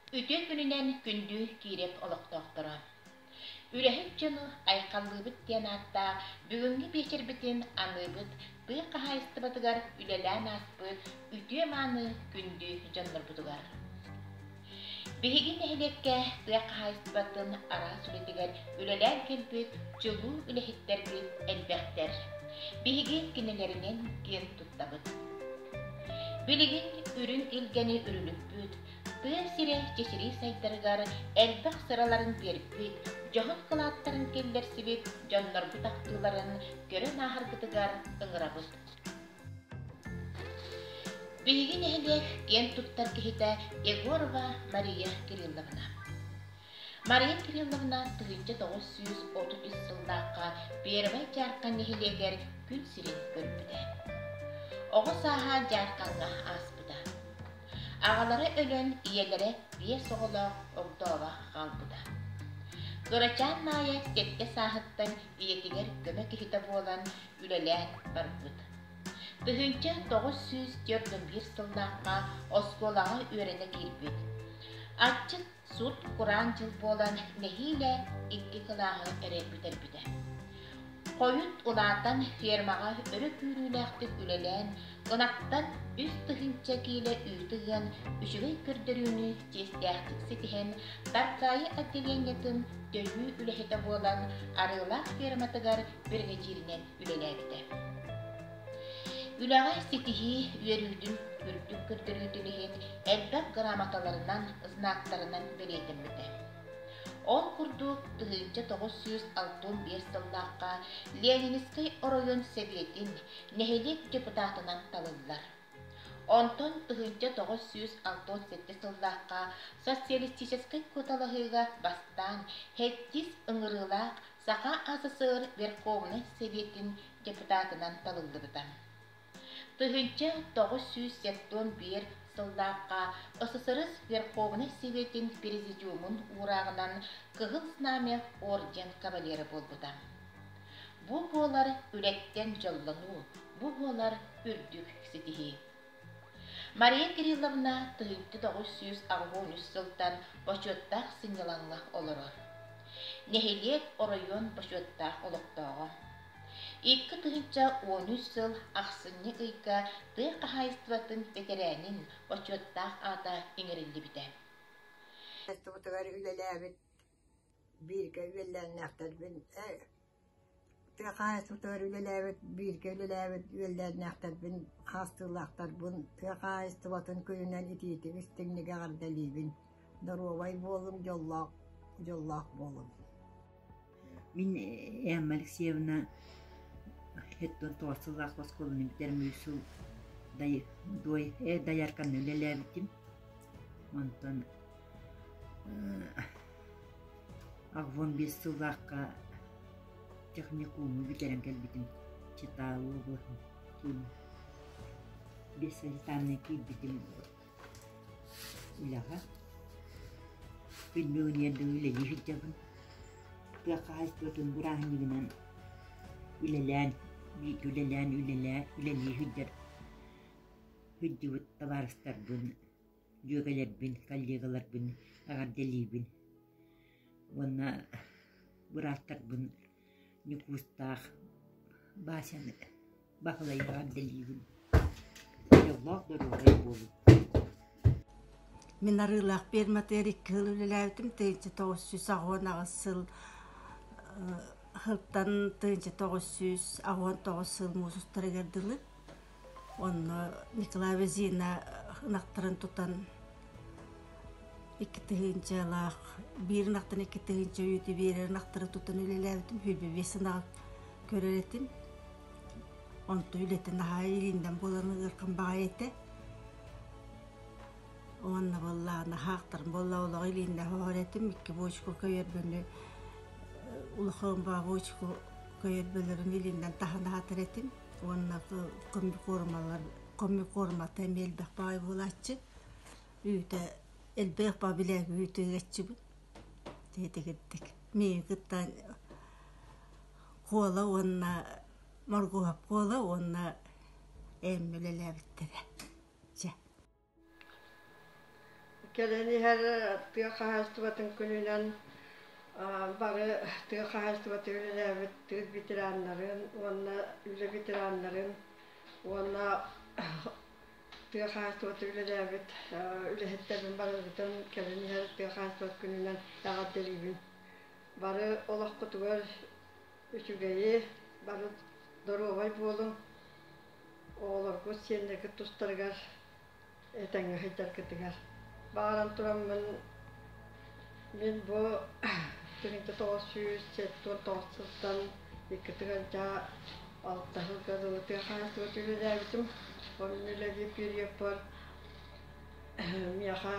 Үтүө күнүнэн күндү киирep олохтоохторо. Үлэһит дьону айхаллыбыт диэн ааттаах бүгүҥҥү биэчэрбитин аныыбыт тыа хаһаайыстыбатыгар үлэлээн ааспыт үтүө мааны күндү дьоннорбутугар. Биһиги нэһилиэккэ тыа хаһаайыстыбатын араас үлэтигэр үлэлээн кэлбит дьулуу үлэһиттэрбит элбэхтэр. Биһиги кинилэринэн киэн туттабыт. Билигин үрүҥ илгэни үрүлүппүт, тыа сирэ чэчирии сайдарыгар элбэх сыраларын биэрбит, дьоһун кылааттарын киллэрсибит дьоннорбут ахтыыларын көрөн ааһаргытыгар ыҥырабыт. Биһиги нэһилиэк киэн туттар киһитэ Егорова Мария Кирилловна. Мария Кирилловна тыһыынча тоҕус сүүс отут үс сыллаахха Первай Дьаархан нэһилиэгэр күн сирин көрбүтэ. Оҕо сааһа Дьаархаҥҥа ааспыта. Аҕалара өлөн, ийэлэрэ биэс оҕолоох огдооҕо хаалбыта. Кырачаан Маайа сэттэ сааһыттан ийэтигэр көмө киһитэ буолан, үлэлээн барбыт. Тыһыынча тоҕус сүүс түөрт уон биир сыллаахха оскуолаҕа үөрэнэ киирбит. Аччык сут-кураан дьыл буолан нэһиилэ икки кылааһы эрэй бүтэрбитэ. Хойут улаатан фермаҕа өрө күүрүүлээхтик үлэлээн, ынахтан үс тыһыынча киилэ үүтү ыан, үчүгэй көрдөрүүнү чиэстээхтик ситиһэн, Таркаайы отделениетын төлүү үлэһитэ буолан, Арыылаах ферматыгар бэлиэтииринэн үлэлээбитэ. Үлэҕэ ситиһии үөрүүтүн үрдүк көрдөрүүтүн иһин элбэх грамоталарынан, знактарынан бэлиэтэммитэ. Ол курдук, тыһыынча тоҕус сүүс алтан биэс сыллаахха Ленинскэй оройуон сэбиэтин нэһилиэк депутатынан талыллар. Онтон тыһыынча тоҕус сүүс алтан сэттэ сыллаахха социалистическай куоталаһыыга бастаан сэттис ыҥырыылаах Саха СССР Верховнай Сэбиэтин депутатынан талыллыбыта. Тыһыынча тоҕус сүүс сепсион биэр сыллаахха СССР Верховнай Сэбиэтин президиумун уурааҕынан Кыһыл Знамя орден кавалера буолбута. Бу буолар үлэттэн дьоллонуу, бу буолар үрдүк ситиһии. Мария Кирилловна тыһыынча тоҕус сүүс аҕыһын үс сылтан бочуоттаах сынньалаҥҥа олорор. Нэһилиэк оройуон бочуоттаах олохтооҕо. Икки тыһыынча уон үс сыл ахсынньы ыйга тыа хаһаайыстыбатын бэтэрээнин бочуоттаах аата иҥэриллибитэ. Хаһаайыстыбатыгар үлэлээбит Бииргэ үөллээннээхтэрбин ээ тыа хаһаайыстыбатыгар үлэлээбит бииргэ үлэлээбит үөллээннээхтэрбин хаастыылаахтарбын тыа хаһаайыстыбатын күнүнэн итиитик истиҥник эҕэрдэлиибин доруобай буолуҥ дьоллоох дьоллоох буолуҥ Мин Эмма Алексеевна һэттон тоҕус сыллаах оскуоланы бүтэрэн биир сыл дай дуой э доярканы үлэлээбитим онтон Аввон биэс сыллаахха техникуму бүтэрэн кэлбитим Читалу облаһын биэссанитарнай киирбитим үлэҕэ. Пенсионердыы үлэлии сылдьабын. Тыа хаһаайыстыбатын бырааһынньыгынан үлэлээн, үлэлээн, үлэлээ, үлэлии сылдьар сылдьыбыт табаарыстарбын дьүөгэлэрбин, коллегаларбын эҕэрдэлиибин уонна бырааттарбын Ньукуустаах Басяны Баһылай эҕэрдэлиибин дьоллоох доруобай буолуҥ Мин Арыылаах пиэрматыгар икки сыл үлэлээбитим тыһыынча тоҕус сүүс аҕыан аҕыс сыл сылтан тыһыынча тоҕус сүүс аҕыан тоҕус сыл муусустарыгар дылы Онно Николай Везина ынахтарын тутан икки тыһыынчалаах, биир ынахтан икки тыһыынча үүтү биэрэр ынахтары тутан үлэлээбитим. Сүүрбэ биэс ынаҕы көрөр этим. Онто үлэтин наһаа илииннэн буолан ыархан баҕайы этэ. Уонна буоллаҕа наһаахтарын буолла олоҕу илииннэ хоһор этим. Икки бочку көйөрбөнү улахан бабочку көйөрбөлөрүн илииннэн таһан аһатар этим. уонна комбикормалар комбикормата эмиэ элбэх баҕайы буолааччы үүтэ элбэх бабилээг үүтү ыгаччыбыт тиэтигирдик миигин кытта куола уонна моргуһап куола уонна ээммэ үлэлээбиттэрэ дьэ Кэлэн иһэр тыа хаһаайыстыбатын күнүнэн бары тыа хаһаайыстыбатын үлэлээбит тыыл ветераннарын уонна үлэ ветераннарын уонна тыа хаһаайыстыбатын үлэлээбит үлэһиттербин барыгытын кэлэн иһэр тыа хаһаайыстыбата күнүнэн эҕэрдэлиибин. Бары олоххутугар үчүгэйи, бары доруобай буолуҥ. оҕолорбут сиэннэргит тустарыгар этэҥҥэ сылдьаргытыгар бааран тураммын мин бу тириҥте тоҕус сүүс сэттуон тоҕус сылтан иккитин алдьаа алта сылга дылы тыа хаһаайыстыбата үлэлээбитим онно үлэлиир периодпар миэхэ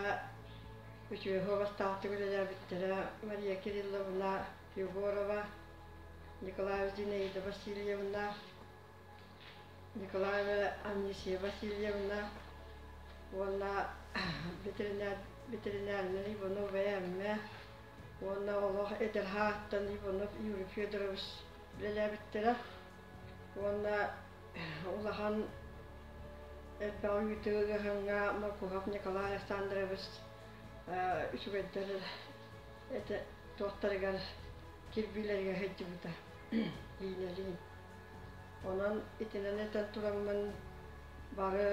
үтүөһэ бастаахтык үлэлээбиттэрэ мария кирилловна егорова николаева зинаида васильевна Николаева Анисия Васильевна уонна ветеринарнай Иванов ЭМ уонна олох эдэрһааттан Иванов Юрий Федорович үлэлээбиттэрэ уонна улахан элбэх ыйытыы ыаһаҥҥа Маркухов Николай Александрович үчүгэйдэр туохтарыгар кирбиилэригэр сылдьыбыта иинэлиин Онон итинэн этэн тураммын бары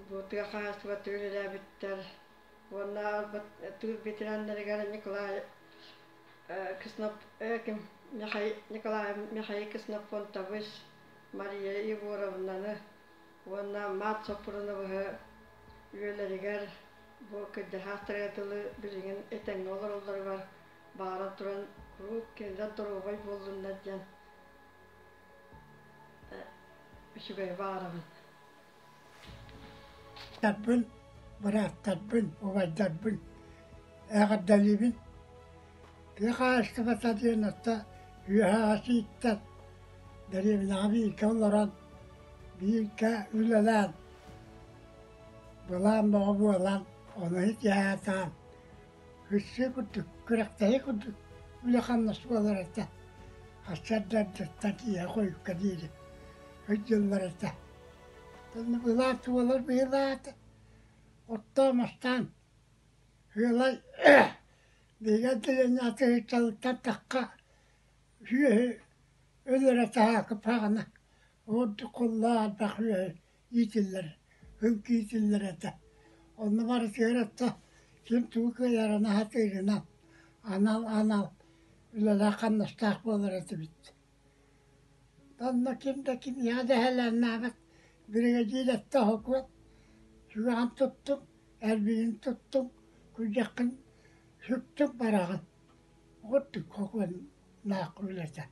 бу тыа хаһаайыстыбаттан үлэлээбиттэр уонна тыыл ветераннарыгар Николай Кснов ким Николай Михаил Кснопонтович, Мария Егоровнаны уонна Маат Соппуруновы үйэлэригэр бу кырдьаһаастары дылы билигин этэҥҥэ олороллоругар Баара туран куруук кинилэр доруобай буоллуннар диэн үчүгэй баарабын Тарбын, бырааттарбын, убайдарбын эҕэрдэлиибин тыа хаһаайыстыбата диэн отто үөһэ ас ииттэр дэриэбинэҕэ бииргэ олорон бииргэ үлэлээн былаан бөҕө буолан ону итиһээтаан Кырсыы курдук, күрэхтэһии курдук үлэ-хамнас буолар этэ. Сарсыардаттан ийэ хойукка диэри өйдүыллар этэ. Итиннэ быһылаат буолар быһылаат, оттоон-мастаан, ыалай биһиги отделениеҕа сыһыыталыттан тахха үһүөһү өлөрө таһаакы паҕана, ордук куллаа ардах үһүөһү иитиллэр, һүҥк иитиллэр этэ. Онно барытыгар отто ким тугу кыайарына сатыырына анал анал үлэлээх хамнастаах буолар этибит. Онно ким да киниэхэ дэһэлээннээбэт биригэдьиир этте хокуот сүрэҕин туттуҥ, эрбигин туттуҥ, күрдьэххин сүктүҥ бараҕын. Ордук хокуоннаах үлэтэ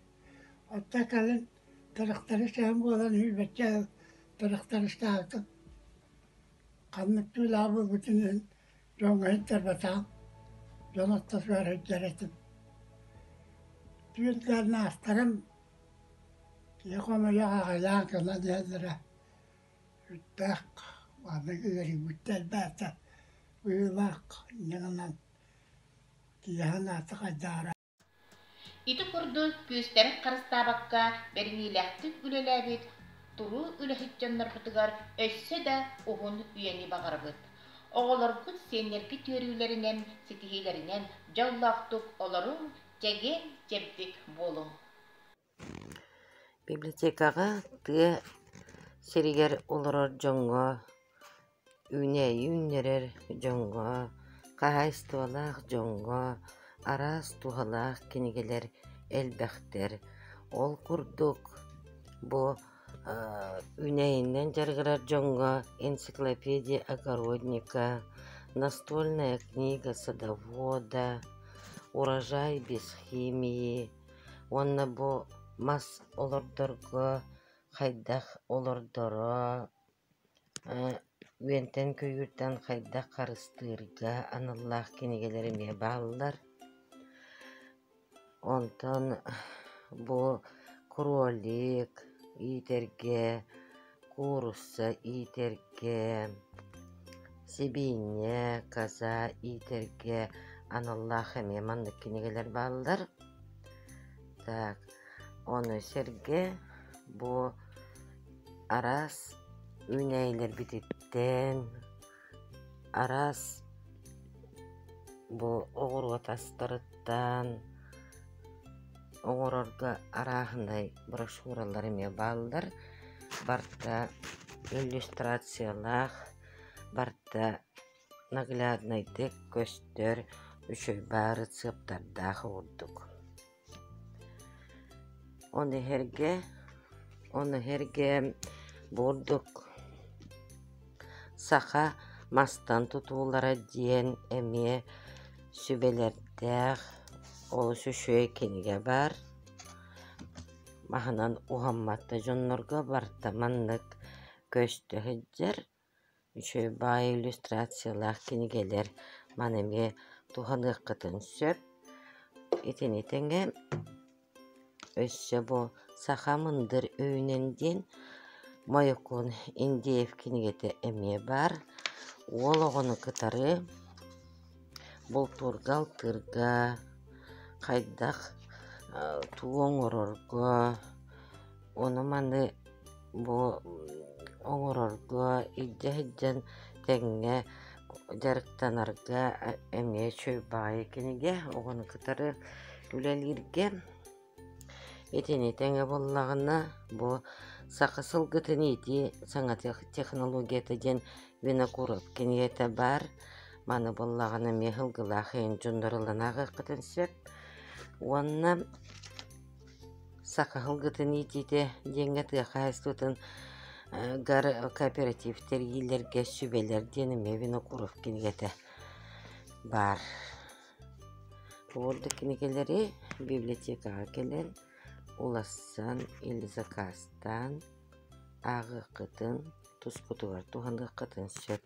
Оттон кэлин тырахтары чаһым буолан иһирбэччэ ыал тырахтарыстаабытым. Ханнык түүлээх буолбутун иһин дьоҥҥо иһиттэбэтэҕим, дьон отто суох иһитэр этим. Түүн кэлэн аастарым, киһи хомойуох аҕыйаан гынан иһэллэрэ. Сүрдээх маннык үөрүйбүттэр элбээтэ быһыылаах инньэ гынан киэһэн аата хайдаара Ити курдук күүстэрин харыстаабакка бэриниилээхтик үлэлээбит туруу үлэһит дьоннорбутугар өссө да уһун үйэни баҕарабыт. Оҕолоргут сиэннэргит үөрүүлэринэн, ситиһиилэринэн дьоллоохтук олоруҥ, чэгиэн-чэбдик буолуҥ. Библиотекаҕа тыа сиригэр олорор дьоҥҥо, үүнээйи үүннэрэр дьоҥҥо, хаһаайыстыбалаах дьоҥҥо араас туһалаах кинигэлэр элбэхтэр. Ол курдук, бу үүнээйинэн дьарыгырар дьоҥҥо энциклопедия огородника, настольная книга садовода, урожай без химии. Уонна бу мас олордорго хайдах олордоро, үөнтэн көйүүртэн хайдах харыстыырга аналлаах кинигэлэр эмиэ бааллар. Онтон бу кролик иитэргэ куурусса иитэргэ, сибиинньэ, каза иитэргэ аналлаах эмиэ маннык кинигэлэр бааллар. Так, ону сэргэ бу араас үүнээйилэрбититтэн Араас бу оҕуруот астарыттан оҥорорго арааһынай брошюралар эмиэ бааллар. Барыта иллюстрациялаах, барыта нагляднайдык көстөр, үчүгэй баары цыаптардаах ордук. Ону эһэргэ, ону эһэргэ бурдук саха мастан тутуулара диэн эмиэ сүбэлэрдээх олус үчүгэй кинигэ баар. Маһынан уһаммат да дьоннорго барыта маннык көстө сылдьар. Үчүгэй баай иллюстрациялаах кинигэлэр маны эмиэ туһаныаххытын сөп. Итини тэҥэ өссө бу Саха мындыр өйүнэн диэн Мойукуун Индеев кинигэтэ эмиэ баар. Уол оҕону кытары бултуурга, алтыырга, хайдах туу оҥорорго, Ону-маны бу оҥорорго, илдьэ сылдьан тэҥҥэ дьарыктанарга эмиэ үчүгэй баҕайы кинигэ, оҕону кытары үлэлииргэ. Итини тэҥэ буоллаҕына, бу саха сылгытын иитии саҥа технологията диэн винокуров кинигэтэ баар. Маны буллаҕына эмиэ сылгылаах эйин дьонноруллан ааҕыаххытын сөп. Уонна Сакаһылгытын иитиитэ диэҥҥэ тыа хаһаайыстыбатын гар кооператив тэрийиилэргэ сүбэлэр, диэн эмиэ Винокуров кинигэтэ баар. Бу курдук кинигэлэри библиотекаҕа кэлэн, уларсан или закаастаан ааҕыаххытын, тускутугар туһаныаххытын сөп.